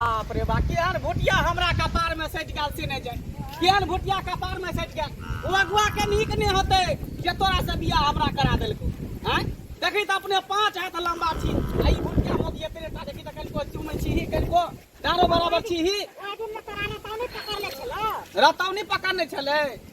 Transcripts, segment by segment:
बाप रे बा केहन भुटिया हमरा कपार में सटि गेल से नहि जाय केहन भुटिया कपार में सटि गेल ओ अगुआ के नीक नहि होते जे तोरा से बियाह हमरा करा देलको हैं देखी त अपने पांच हाथ लंबा छी आ ई भुटिया मोदी एतरे टा देखी त कनिको चुमै छी ही कनिको दारो बराबर छी ही रतौनी पकड़ने छलै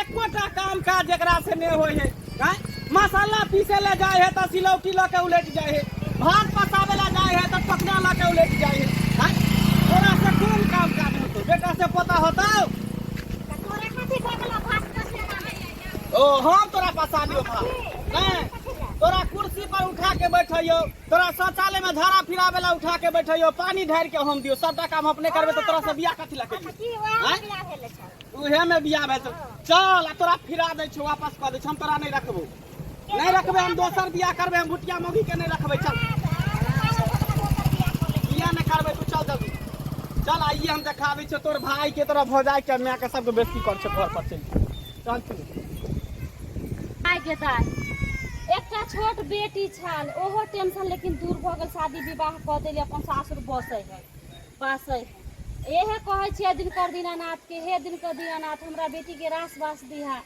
एकोटा काम काज जकरा से नहि होइ है आँय? मसाला पीसे ले जाए है तऽ सिलौटी लऽ के उलट जाए है भात पकावे ला जाए है तऽ टकना लऽ के उलट जाए है आँय? तोरा से कोन काम काज होतो बेटा से पता होता तोरा कथी भगला भात कसले ना है ओ हम तोरा पसाबियो भात आँय? तोरा कुर्सी पर उठा के बैठैयो तोरा शौचालय में झाड़ा फिरावे ला उठा के बैठैयो पानी ढारि के हम दियो सबटा काम अपने करबे तऽ तोरा से बियाह कथी लऽ करियो की ओए आँय? बियाह भेलै छौ उहे में बियाह भेल चल तोरा फिरा दे छो वापस कर दे हम तोरा नहीं रखबो नहीं रखबे हम दोसर बियाह करबे हम भुटिया मौगी के नहीं रखबे चल बियाह नहीं करबे तू चल जल्दी चल आइए हम देखाबे छो तोर भाई के तोरा भौजाई के मैं के सबके बेइज्जती कर छो घर पर चल चल तू आइ गेदाइ एकटा छोट बेटी छल ओहो टेंशन लेकिन दूर भऽ गेल शादी विवाह कऽ देली अपन सासुर बसै है बसै है इएह कहै छियै दिनकर दीनानाथके हे दिनकर दीनानाथ हमरा बेटीके रास बास दिहा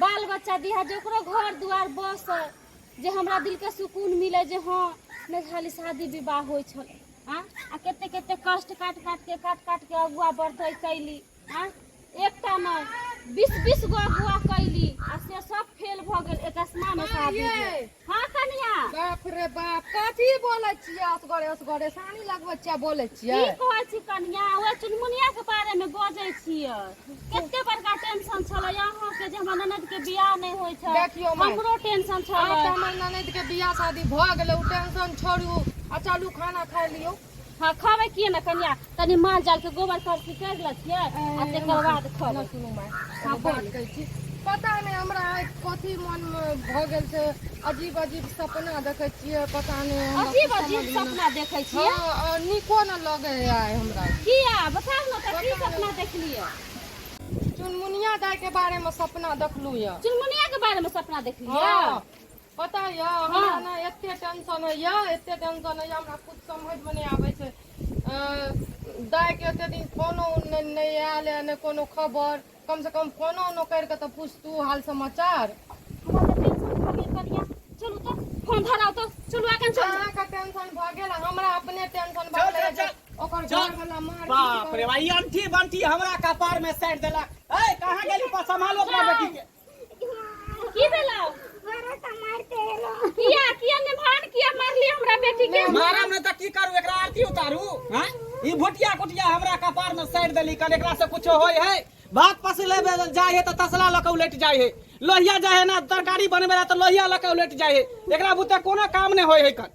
बाल बच्चा दिहा जे ओकरो घर दुआर बस जे हमरा दिलके सुकून मिले जे हँ नहि खाली शादी विवाह होइ छल आ कते कते कष्ट काटि काटिके काटि काटिके अगुआ बढ़तै कैली आ एकटा मे बीस बीस गो अगुआ कैली आ से सब फेल भऽ गेल एकस्मा मे शादी भेल। हँ कनिया बाप रे बाप कथी बोलै छियै असगरे असगरे सानी लगबै छियै आ बोलै की छियै कहै छी कनिया ओए चुनमुनिया के बारे मे बजै छियै कते बड़का टेंशन छलै अहाँ के जे हमर ननद के बियाह नहि होइ छै देखियौ माय। हमरो टेंशन आब तऽ छलै हमर ननद के बियाह शादी भऽ गेलै ओ टेंशन छोड़ू आ चलू खाना खा लियौ हँ खबै किए ने कनिया कनि माल जाल के गोबर करसी कर लतियै आ तकर बाद खबै सुनू माय हँ एगो बात बोलू कहै छी पता नहि हमरा आइ कथी मन मे भऽ गेल छै अजीब अजीब सपना देखै छियै पता नहि हमरा अजीब कुछ अजीब समझ मे सपना देखै नहि- छियै हँ आ नीको ने लगै है आइ हमरा किया बताउ ने तऽ की सपना देखलियै चुनमुनिया दाय के बारे मे सपना देखलू यऽ चुनमुनिया के बारे में सपना देखलियै हँ। पता यऽ हमरा हँ ने एते टेंशन होइया एते टेंशन होइया हमरा कुछ समझ मे नहि आबे छै अ दाय के एते दिन फोनो उन नहि आयल ए नहि कोनो खबर कम से कम फोनो उनो करिके तऽ पुछतू हाल समाचार हमरा तऽ टेंशन भऽ गेल कनिया चलू तऽ फोन धराउ तऽ चलू एखन चलू अहाँके टेंशन भऽ गेल आ हमरा अपने टेंशन भऽ चल गेल चल जे चल ओकर चल घर वाला मार पीट बाप रे करत बा ई अंठी बंठी हमरा कपार में साटि देलक ए कहाँ गेली पा सम्हालो अपना बेटी के की भेलो मारा त मारते एलो किया किया ने भान किया मारली हमरा बेटी के मारम ने त की करू एकरा आरती उतारू हां ई भोटिया कोटिया हमरा कपार में साइड देली कल एकरा से कुछ होय है बात पस लेबे जाय है त तसला लके उलट जाय है लोहिया जाय है ना तरकारी बनबे ला त लोहिया लके उलट जाय है एकरा बुते कोनो काम ने होय है कल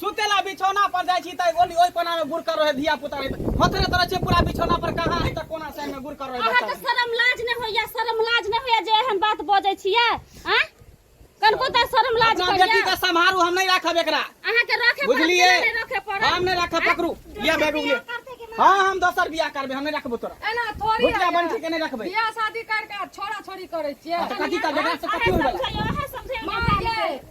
सुते ला बिछौना पर जाइ छी तऽ ओली ओहि कोना में गुड़ कर रहे धिया पुता हथरे तरह छै पूरा बिछौना पर कहाँ है तऽ कोना साइड में गुड़ कर रहे अहाँ तऽ शरम लाज नहि होइया शरम लाज नहि होइया जे एहन बात बजै छियै आँ कनको तऽ शरम लाज अपना बेटी के सम्हारू हम नहीं राखब एकरा अहाँ के रखे बुझलिए हम नहीं राखब पकड़ू या बैग उगले हाँ हम दोसर बियाह करबे हम नहीं रखबो तोरा एना थोड़ी भुटिया बन के नहीं रखबे बियाह शादी करके छोरा छोरी करे छियै कथी करबे से कथी होबे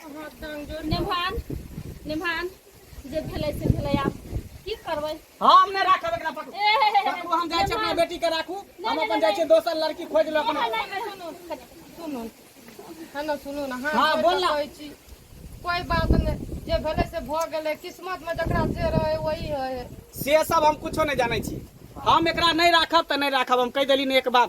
नेभान नेभान जे भेलै से भेलै आब की करबै हम नहि राखब एकरा पकड़ू ए, हे, हे, हे, पकड़ू हम जाइ छी अपना नेभान, बेटी के राखू हम नहि, अपन जाइ छी नहि। दोसर लड़की खोज लऽ अपना नहि, नहि, सुनू, सुनू हेलो सुनू ने हाँ, हाँ बोल ना। कहै छी कोई बात नहीं जे भेलै से भऽ गेलै किस्मत में जकरा जे रहै वही है से सब हम कुछो नहि जानै छी हम एकरा नहि राखब तऽ नहि राखब हम कहि देली ने एक बार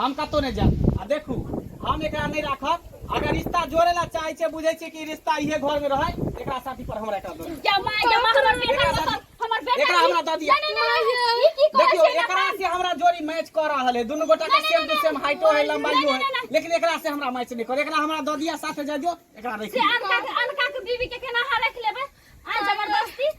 हम कतहु नहि जायब आ देखू हम एकरा नहि राखब अगर रिश्ता जोड़े ला चाहे छे बुझे छे कि रिश्ता इहे घर में रहे एकरा शादी पर हमरा एकरा दो क्या माय क्या माय हमर बेटा एकरा दो हमर बेटा एकरा हमरा दो दिया नहीं नहीं ई की करे देखियो एकरा से हमरा जोड़ी मैच कर रहा है दोनों गोटा का सेम टू सेम हाइटो है लंबाईयो है लेकिन एकरा से हमरा मैच नहीं कर एकरा हमरा दो दिया साथे जाजो एकरा रख से अनका अनका के बीवी के केना हां रख लेबे आ जबरदस्ती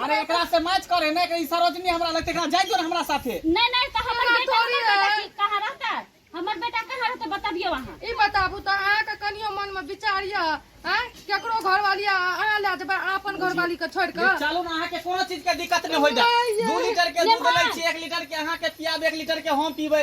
अरे एकरा से मैच करे ना एकरी सरोजनी हमरा लगते एकरा जाय दो ना हमरा साथे नहीं नहीं तो हमर हमरा बेटा थोड़ी हमर बेटा है। की- कहाँ रहता हमर बेटा कहाँ रहता बताबियो अहाँ ई बताबू तऽ अहाँके कनियो मनमे विचार यऽ आँय केकरो घरवाली आ अहाँ लए जेबै अहाँ अपन घरवालीके छोड़ि ले कऽ चलू ना अहाँ के कोनो चीज के दिक्कत नहीं होई जा नहीं, दू लीटर के ले दूध मार। ले छी एक लीटर के अहाँ के पियाब एक लीटर के हम पीबे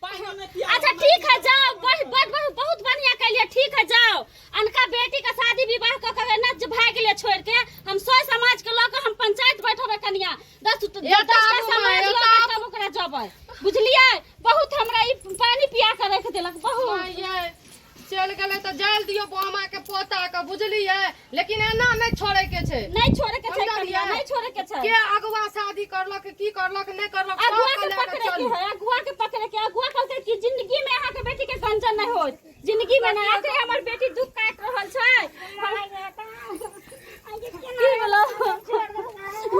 अच्छा ठीक है जाओ बहुत बहुत बहुत बढ़िया कहलिए ठीक है जाओ अनका बेटी का शादी विवाह क के ना जो भाग ले छोड़ के हम सौ समाज के लोग हम पंचायत बैठबे कनिया दस दस एता दस आबू माय, समाज एता लोग आबू। तब ओकरा जबै बुझलिए बहुत हमरा ई पानी पिया के रख देलक बहुत माय ये चलि गेलै तऽ जाय दियौ बामा के पोता के बुझलियै लेकिन एना नहि छोड़े के छै नहीं छोड़े के छै कनिया नहीं छोड़े के छै के अगुआ शादी करलक की करलक नहि करलक अगुआ के पकड़े के है अगुआ के पकड़े के अगुआ कहलकै कि जिंदगी में अहाँ के बेटी के गंजन नहीं होत जिंदगी में नहीं आते हमर बेटी दुख काट रहल छै की बोलो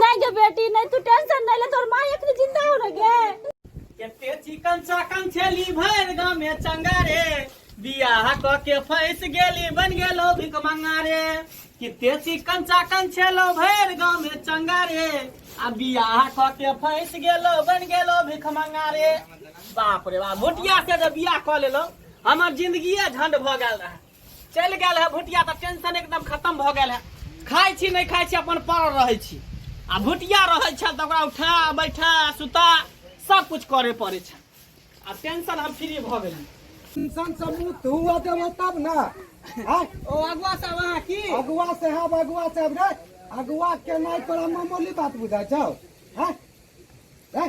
नहीं गे बेटी नहीं तू टेंशन नहीं ले तोर मां एक जिंदा हो रह गे केते चिकन चाकन छेली भर गाँव में चंगा रे बियाह क के फैस गेली बन गेलो भिक मंगा रे किते चिकन चाकन छेलो भर गाँव में चंगा रे आ बियाह क के फैस गेलो बन गेलो भिक मंगा रे बाप रे बाप मोटिया से जब बियाह क लेलो हमर जिंदगी झंड भ गेल रहे चलि गेल है भुटिया तऽ टेंशन एकदम खत्म भऽ गेल है खाइ छी नहि खाइ छी अपन पड़ल रहै छी आ भुटिया रहै छै तऽ ओकरा उठा बैठा सुता सब कुछ करे पड़े छै आ टेंशन हम फ्री भऽ गेली टेंशन से मुक्त हुआ देबो तब ना आय ओ अगुआ सब अहाँ की अगुआ साहब अगुआ साहब रे अगुआ के नाय तोरा मामूली बात बुझाय छौ हैं हैं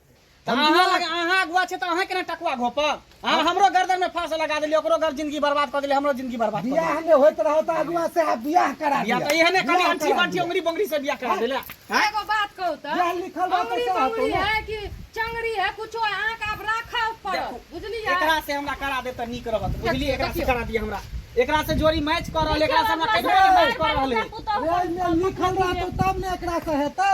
हम अहाँ दुआर- लग अहाँ अगुआ छै तऽ अहाँ केना टकुआ घोप अहाँ हमरो गर्दन में फांस लगा देलियै ओकरो गर जिंदगी बर्बाद कऽ देलियै हमरो जिंदगी बर्बाद कऽ देलियै बियाह में होइत रहो तऽ अगुआ से आब बियाह करा या दिया तऽ एहने कनि बियाह अंठी करा बंठी दिया। उंगरी बोंगरी से बियाह करा देले हैं एगो बात कहू तऽ बियाह लिखल रहतै अमरी सएह बमरी होतै ने। है कि चंगरी है कुछो है, अहाँके आब राखऽ पड़त बुझलियै एकरा से हमरा करा दे तऽ नीक रहत बुझलियै एकरा से देखियौ। करा दिय हमरा एकरा से जोड़ी मैच कर रहल एकरा से हमरा कहियो मैच कर रहल है पुतहु ओहिमे लिखल रहतौ तब ने एकरा से हेतौ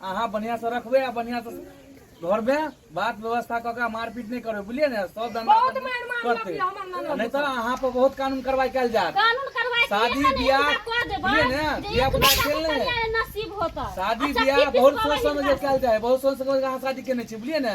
अहाँ बढ़िया से रखबे आ बढ़िया से घर में बात व्यवस्था कऽ के मारपीट नहीं करबे बुझलिए ने सब धंधा बहुत पानी मार मार करते लगिया हमर ननद नहीं तो अहाँ पर बहुत कानून कार्रवाई कल जात कानून करवाए शादी बियाह, बुझलिए ने? बियाह बुझा खेल ले। नसीब होता शादी अच्छा, बियाह किस दिन बहुत सोच करवाई समझ के हमरा? कल जाए बहुत सोच समझ के अहाँ शादी केने छी बुझलिए ने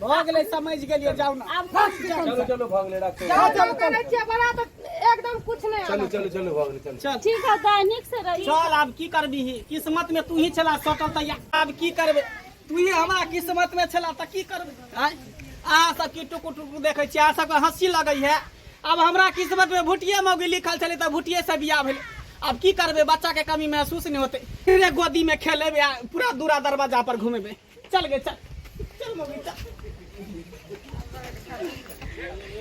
भऽ गेलै समझ गेलियै जाउ ने आब बस जाउ। चलो चलो भाग ले रखो जाउ, जाउ, करै छियै बड़ा तऽ एकदम कुछ नहि चलो आबत। चलो चलो भाग ले चलो चल ठीक है गाय नीक से रही चल आब की करबी किस्मत में तू ही छला सटल तैया आब की करबे तू ही हमरा किस्मत में छला त की करबे अहाँ सब की टुकु टुकु देखै छियै अहाँ सबके हँसी लगै है अब हमरा किस्मत में भुटिये मौगी लिखल छलै तऽ भुटिये से बियाह भेल अब की करबै बच्चा के कमी महसूस नहीं होते रे गोदी में खेलेबै आ पूरा दूरा दरवाजा पर घूमेबे चल गे चल चल मौगी चल